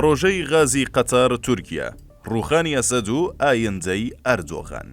پڕۆژەی غازی قەتەر تورکیا، ڕووخانی ئەسەد و ئایندەی ئەردۆغان.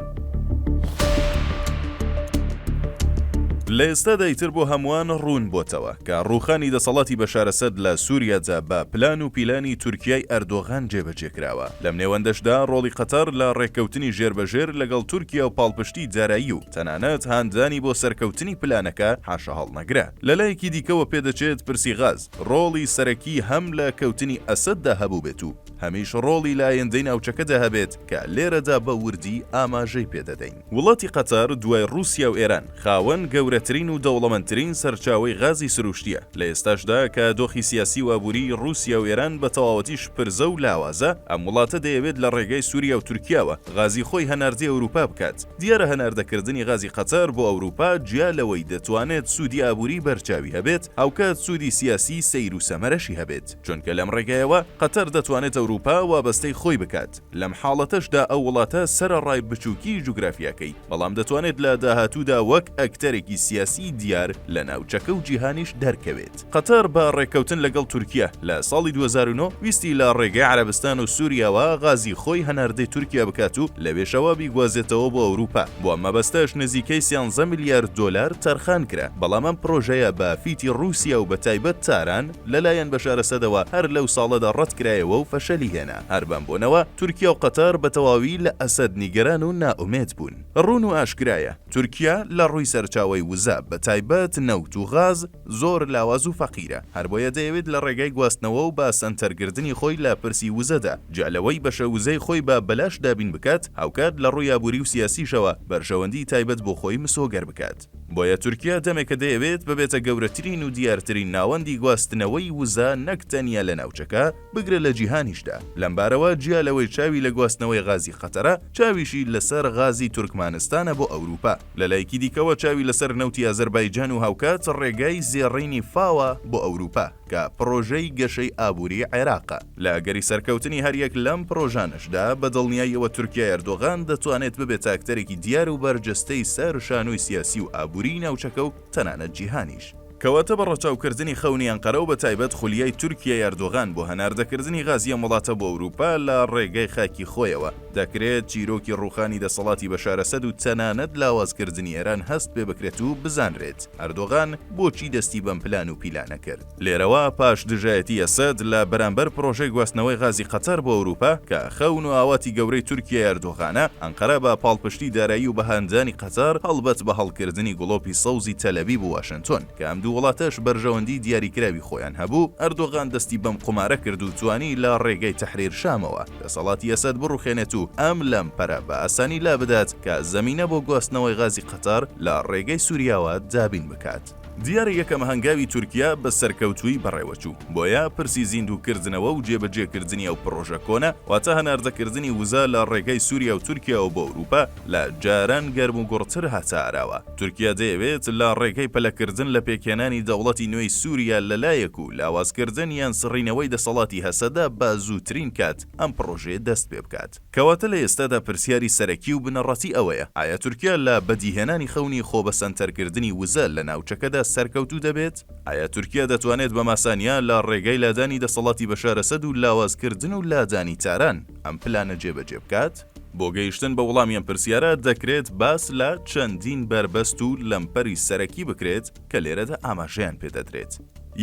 لە ئێستادا ئیتر بۆ هەمووان ڕوون بۆتەوە کە ڕووخانی دەسەڵاتی بەشار ئەسەد لە سووریادا بە پلان و پیلانی تورکیای ئەردۆغان جێبەجێ کراوە، لەم نێوەندەشدا ڕۆڵی قەتەر لە ڕێککەوتنی ژێربەژێر لەگەڵ تورکیا و پاڵپشتی دارایی و تەنانەت هاندانی بۆ سەرکەوتنی پلانەکە حاشاهەڵنەگرە. لە لایەکی دیکەوە پێدەچێت پرسی غاز ڕۆڵی سەرەکی هەم لە کەوتنی ئەسەددا هەبووبێت و هەمیش ڕۆڵی لە ئایندەی ناوچەکەدا هەبێت کە لێرەدا بە وردی ئاماژەی پێ دەدەین. وڵاتی قەتەر دوای ڕووسیا و ئێران خاوەن گەورەترین و دەوڵەمەندترین سەرچاوەی غازی سروشتییە. لە ئێستاشدا کە دۆخی سیاسی و ئابووریی ڕووسیا و ئێران بە تەواوەتی شپرزە و لاوازە، ئەم وڵاتە دەیەوێت لە ڕێگای سووریا و تورکیاوە غازی خۆی هەناردەی ئەورووپا بکات. دیارە هەناردەکردنی غازی قەتەر بۆ ئەوروپا جیا لەوەی دەتوانێت سوودی ئابووری بەرچاوی هەبێت، هاوکات سوودی سیاسی سەیر و سەمەرەشی هەبێت، چونکە لەم ڕێگایەوە قەتەر دەتوانێت ئەوروپا وابەستەی خۆی بکات، لەم حاڵەتەشدا ئەو وڵاتە سەرەڕای بچووکیی جوگرافیاکەی، بەڵام دەتوانێت لە داهاتوودا وەک ئەکتەرێکی سیاسیی دیار لە ناوچەکە و جیهانیش دەرکەوێت. قەتەر بە ڕێککەوتن لەگەڵ تورکیە لە ساڵی دوو هەزار و نۆ ویستی لە ڕێگەی عەرەبستان و سوریاوە غازی خۆی هەناردەی تورکیا بکات و لەوێشەوە بیگوازێتەوە بۆ ئەوروپا، بۆ ئەم مەبەستەش نزیکەی سیانزە ملیار دۆلار تەرخان کرا، بەڵام ئەم پڕۆژەیە بە فیتی ڕوسیا و بەتایبەت تاران لەلایەن بەشار ئەسەدەوە هەر لەو ساڵەدا ڕەت کرایەوە و فەشەلی هێنا، هەر بەم بۆنەوە تورکیا و قەتەر بەتەواوی لە ئەسەد نیگەران و نائومێد بوون. ڕوون و ئاشکرایە تورکیا لە ڕووی سەرچاوەی وزە بەتایبەت نەوت و غاز، زۆر لاواز و فەقیرە، هەربۆیە دەیەوێت لە ڕێگای گواستنەوە و بە سەنتەر گردنی خۆی لە پرسی وزەدا، جیا لەوەی بەشە وزەی خۆی بە بەلاش دابین بکات، هاوکات لە ڕووی ئابووری و سیاسیشەوە بەرژەوەندی تایبەت بۆ خۆی مسۆگەر بکات. بۆیە تورکیا دەمێکە دەیەوێت ببێتە گەورەترین و دیارترین ناوەندی گواستنەوەی وزە نەک تەنیا لە ناوچەکە، بگرە لە جیهانیشدا، لەمبارەوە جیا لەوەی چاوی لە گواستنەوەی غازی قەتەرە، چاویشی لەسەر غازی تورکمانستانە بۆ ئەوروپا. لەلایەکی دیکەوە چاوی لەسەر نەوتی ئازەربایجان و هاوکات ڕێگای زێڕینی فاوە بۆ ئەوروپا، کە پڕۆژەی گەشەی ئابووری عێراقە. لە ئەگەری سەرکەوتنی هەریەک لەم پڕۆژانەشدا، بە دڵنیایی ئەوە تورکیای ئەردۆغان دەتوانێت ببێتە ئەکتەرێکی دیار و بەرجەستەی سەر شانۆی سیاسی و ئابووریی ناوچەکە و تەنانەت جیهانیش. کەواتە بە ڕەچاوکردنی خەونی ئەنقەرە و بە تایبەت خولیای تورکیای ئەردۆغان بۆ هەناردەکردنی غازی ئەم وڵاتە بۆ ئەوروپا لە ڕێگای خاکی خۆیەوە، دەکرێت چیرۆکی ڕووخانی دەسەڵاتی بەشار ئەسەد و تەنانەت لاوازکردنی ئێران هەست پێ بکرێت و بزانرێت ئەردۆغان بۆچی دەستی بەم پلان و پیلانە کرد. لێرەوە پاش دژایەتی ئەسەد لە بەرامبەر پرۆژەی گواستنەوەی غازی قەتەر بۆ ئەوروپا کە خەون و ئاواتی گەورەی تورکیای ئەردۆغانە، ئەنقەرە بە پاڵپشتی دارایی و بەهاندانی قەتەر، هەڵبەت بە هەڵکردنی گڵۆپی سەوزی تەلەبیب و واشنتۆن، کە ئەم دوو وڵاتەش بەرژەوەندیی دیاریکراوی خۆیان هەبوو، ئەردۆغان دەستی بەم قومارە کرد و توانی لە ڕێگەی تەحریر شامەوە دەسەڵاتی ئەسەد بڕوخێنێت و ئەم لەمپەرە بە ئاسانی لابدات کە زەمینە بۆ گواستنەوەی غازی قەتەر لە ڕێگەی سوریاوە دابین بکات. دیارە یەکەم هەنگاوی تورکیا بە سەرکەوتوویی بەڕێوەچوو، بۆیە پرسی زیندووکردنەوە و جێبەجێکردنی ئەو پڕۆژە کۆنە، واتە هەناردەکردنی وزە لە ڕێگەی سوریا و تورکیاوە بۆ ئەوروپا، لە جاران گەرموگوڕتر هاتە ئاراوە. تورکیا دەیەوێت لە ڕێگەی پەلەکردن لە پێکهێنانی دەوڵەتی نوێی سوریا لەلایەک و لاوازکردن یان سڕینەوەی دەسەڵاتی هەسەدە بە زووترین کات ئەم پڕۆژەیە دەست پێ بکات. کەواتە لە ئێستادا پرسیاری سەرەکی و بنەڕەتی ئەوەیە، ئایا تورکیا لە بەدیهێنانی خەونی خۆبەسەنتەرکردنی وزە لە ناوچەکەدا سەرکەوتوو دەبێت؟ ئایا تورکیا دەتوانێت بە ماسانیا لە ڕێگای لادانی دەسەڵاتی بەشار ئەسەد و لاوازکردن و لادانی تاران ئەم پلانە جێبەجێ بکات؟ بۆ گەیشتن بە وڵامی ئەم پرسیارە دەکرێت باس لە چەندین بەربەست و لەمپەری سەرەکی بکرێت کە لێرەدا ئاماژەیان پێ دەدرێت.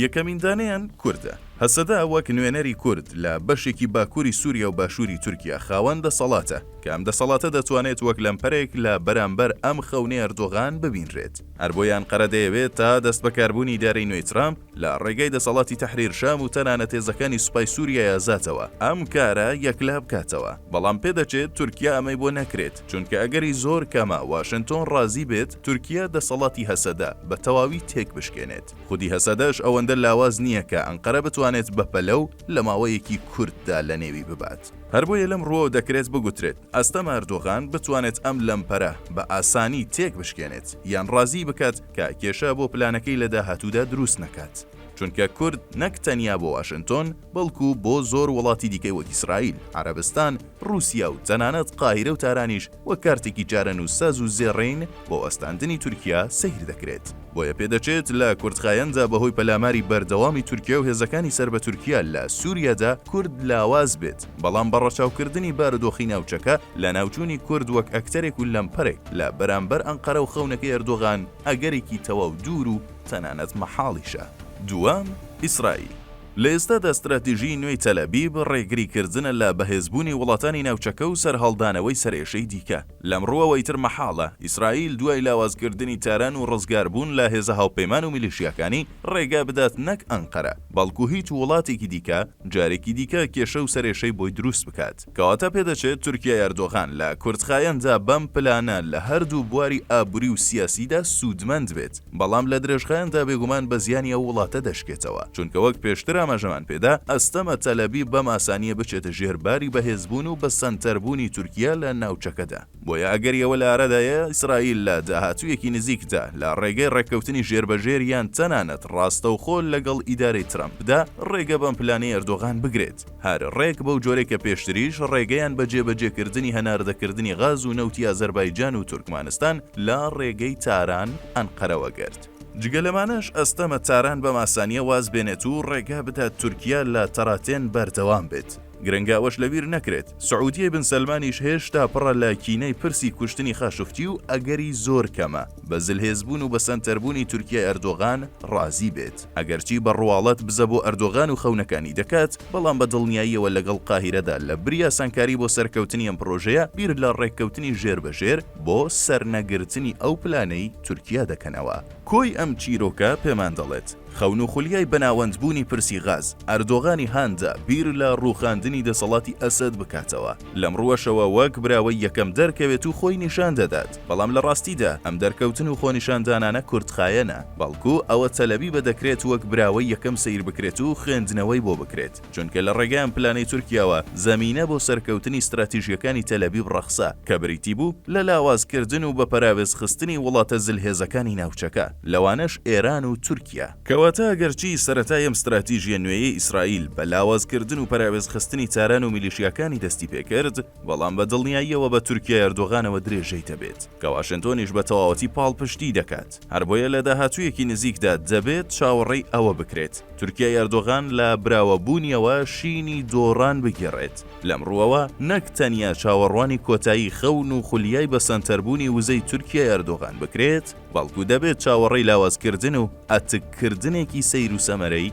یەکەمین دانەیان کوردە. هەسەدە وەک نوێنەری کورد لە بەشێکی باکووری سووریا و باشووری تورکیا خاوەن دەسەڵاتە، کە ئەم دەسەڵاتە دەتوانێت وەک لەمپەرێک لە بەرامبەر ئەم خەونەی ئەردۆغان ببینرێت. هەر بۆیە ئەنقەرە دەیەوێت تا دەستبەکاربوونی ئیدارەی نوێی ترامپ، لە ڕێگای دەسەڵاتی تەحریر شام و تەنانەت هێزەکانی سوپای سوریای ئازادەوە ئەم کارە یەکلا بکاتەوە، بەڵام پێدەچێت تورکیا ئەمەی بۆ نەکرێت، چونکە ئەگەری زۆر کەمە واشنتۆن ڕازی بێت تورکیا دەسەڵاتی هەسەدە بە تەواوی تێکبشکێنێت، خودی هەسەدەش ئەوەندە لاواز نییە کە ئەنقەرە بتوانێت بەپەلە و لە ماوەیەکی کورتدا لەنێوی ببات. هەر بۆیە لەم ڕووەوە دەکرێت بگوترێت ئەستەمە ئەردۆغان بتوانێت ئەم لەمپەرە بە ئاسانی تێک بشکێنێت یان ڕازی بکات کە کێشە بۆ پلانەکەی لە داهاتوودا دروست نەکات چونکە کورد نەک تەنیا بۆ واشنتۆن بەڵکو بۆ زۆر وڵاتی دیکەی وەک ئیسرائیل، عەرەبستان، ڕووسیا و تەنانەت قاهیرە و تارانیش وەک کارتێکی چارەنووسساز و زێڕین بۆ وەستاندنی تورکیا سەیر دەکرێت. بۆیە پێدەچێت لە کورتخایەندا بەهۆی پەلاماری بەردەوامی تورکیا و هێزەکانی سەر بە تورکیا لە سووریادا کورد لاواز بێت، بەڵام بە ڕەچاوکردنی بارودۆخی ناوچەکە، لەناوچوونی کورد وەک ئەکتەرێک و لەمپەرێک لە بەرامبەر ئەنقەرە و خەونەکەی ئەردۆغان، ئەگەرێکی تەواو دوور و تەنانەت مەحاڵیشە. دووەم، ئیسرائیل. لە ئێستادا ستراتیژیی نوێی تەلئەبیب ڕێگریکردنە لە بەهێزبوونی وڵاتانی ناوچەکە و سەرهەڵدانەوەی سەرئێشەی دیکە، لەم ڕووەوە ئیتر مەحاڵە ئیسرائیل دوای لاوازکردنی تاران و ڕزگاربوون لە هێزە هاوپەیمان و میلیشیاکانی، ڕێگا بدات نەک ئەنقەرە، بەڵکو هیچ وڵاتێکی دیکە جارێکی دیکە کێشە و سەرئێشەی بۆی دروست بکات. کەواتە پێدەچێت تورکیای ئەردۆغان لە کورتخایەندا بەم پلانە لە هەردوو بواری ئابوری و سیاسیدا سودمەند بێت، بەڵام لە درێژخایەندا بێگومان بە زیانی ئەو وڵاتە دەشکێتەوە، چونکە وەک پێشتر ئاماژەمان پێدا ئەستەمە تەلئەبیب بەم ئاسانیە بچێتە ژێر باری بەهێزبون و بە سەنتەربونی تورکیا لە ناوچەکەدا. بۆیە ئەگەری ئەوە لەئارادایە ئیسرائیل لە داهاتوویەکی نزیکدا لە ڕێگەی ڕێککەوتنی ژێربەژێر یان تەنانەت ڕاستەوخۆ لەگەڵ ئیدارەی ترەمپدا ڕێگە بەم پلانەی ئەردۆغان بگرێت هەر ڕێک بەو جۆرەی کە پێشتریش ڕێگەیان بە جێبەجێکردنی هەناردەکردنی غاز و نەوتی ئازەربایجان و تورکمانستان لە ڕێگەی تاران، ئەنقەرەوە گرت. جگە لەمانەش ئەستەمە تاران بەم ئاسانییە واز بێنێت و ڕێگا بدات تورکیا لە تەراتێن بەردەوام بێت. گرنگە ئەوەش لەبیر نەکرێت، سعودیەی بن سەلمانیش هێشتا پڕە لە کینەی پرسی کوشتنی خاشقچی و ئەگەری زۆر کەمە بە زلهێزبوون و بەسەنتەربوونی تورکیای ئەردۆغان ڕازی بێت، ئەگەرچی بە ڕواڵەت بزە بۆ ئەردۆغان و خەونەکانی دەکات، بەڵام بە دڵنیاییەوە لەگەڵ قاهیرەدا لە بری ئاسانکاری بۆ سەرکەوتنی ئەم پڕۆژەیە بیر لە ڕێککەوتنی ژێربەژێر بۆ سەرنەگرتنی ئەو پلانەی تورکیا دەکەنەوە. کۆی ئەم چیرۆکە پێمان دەڵێت، خەون و خولیای بەناوەندبوونی پرسی غاز، ئەردۆغانی هاندا بیر لە ڕووخاندنی دەسەڵاتی ئەسەد بکاتەوە، لەم ڕووەشەوە وەک براوەی یەکەم دەرکەوێت و خۆی نیشان دەدات، بەڵام لە ڕاستیدا ئەم دەرکەوتن و خۆنیشاندانانە کورتخایەنە، بەڵکو ئەوە تەلئەبیبە دەکرێت وەک براوەی یەکەم سەیر بکرێت و خوێندنەوەی بۆ بکرێت. چونکە لە ڕێگەی ئەم پلانەی تورکیاوە زەمینە بۆ سەرکەوتنی ستراتیژیەکانی تەلەبیب ڕەخسا کە بریتی بوو لە لاوازکردن و بەپەراوێز خستنی وڵاتە زلهێزەکانی ناوچەکە لەوانەش ئێران و تورکیا. کەواتە ئەگەرچی سەرەتای ئەم ستراتیژیە نوێیەی ئیسرائیل بە لاوازکردن و پەراوێز خستنی تاران و میلیشیاکانی دەستی پێ کرد بەڵام بە دڵنیاییەوە بە تورکیای ئەردۆغانەوە درێژەی دەبێت کە واشنتۆنیش بە تەواوەتی پاڵپشتی دەکات. هەر بۆیە لە داهاتوویەکی نزیکدا دەبێت چاوەڕێی ئەوە بکرێت تورکیای ئەردۆغان لە براوەبوونیەوە شینی دۆڕان بگێڕێت. لەم ڕووەوە نەک تەنیا چاوەڕوانی کۆتایی خەون و خولیای بەسەنتەربوونی وزەی تورکیای ئەردۆغان بکرێت، بەڵکو دەبێت چاوەڕێی لاوازکردن و ئەتککردنێکی سەیروسەمەرەی